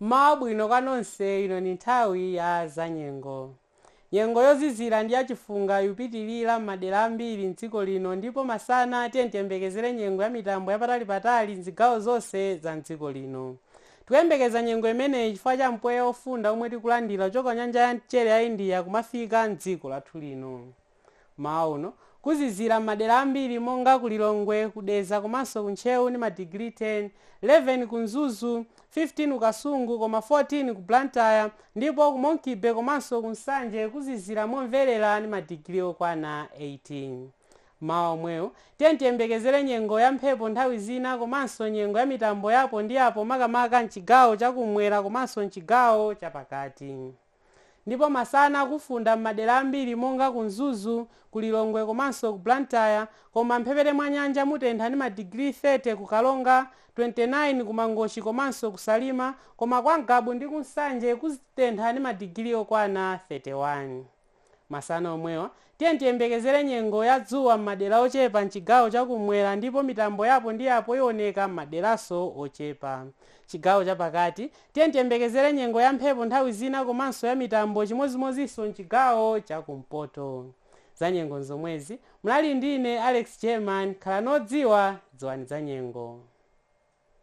Mmawa bwino kwa nonse, ino ni nthawi ya zanyengo. Nyengo yozizila ndi yacifunga ikupitilila m'madela ambili m'dziko lino, ndipo masana tiyeni tiyembekezele nyengo ya mitambo yapatali-patali m'zigawo zonse za m'dziko lino. Tikuyembekeza nyengo imeneyi cifukwa ca mpweya wofunda womwe tikulandila kucoka ku nyanja ya mcele ya India kumafika m'dziko lathu lino. Mmawa uno, kuzizira mmadera ambiri monga ku Lilongwe, ku Dedza komanso ku Ntcheu ndi ma digiri 10, 11 ku Mzuzu, 15 ku Kasungu koma 14 ku Blantyre ndipo ku Monkey Bay komanso ku Nsanje kuzizira momverera ndi ma digiri okwana 18. Mmawa omwewu, tiyeni tiyembekezere nyengo ya mphepo nthawi zina komanso nyengo ya mitambo ya apo ndi apo makamaka mchigawo cha kummwera komanso mchigawo cha pakati. Ndipo masana kufunda m'madera ambiri monga ku Mzuzu, ku Lilongwe komanso ku Blantyre koma m'mphepete mwa nyanja mutentha ndi madigiri 30 ku Karonga, 29 ku Mangochi komanso ku Salima koma kwa Ngabu ndi ku Nsanje kutentha ndi madigiri okwana 31. Masana omwewa, tiyeni tiyembekezere nyengo ya dzuwa m'madera ochepa m'chigawo cha kummwera ndipo mitambo ya apo ndi apo ioneka m'maderanso ochepa. Chigawo cha pakati, tiyeni tiyembekezere nyengo ya mphepo nthawi zina komanso ya mitambo chimodzimodzinso m'chigawo cha kumpoto. Zanyengo n'zomwezi, munali ndi ine Alex German. Khalani odziwa, dziwani zanyengo.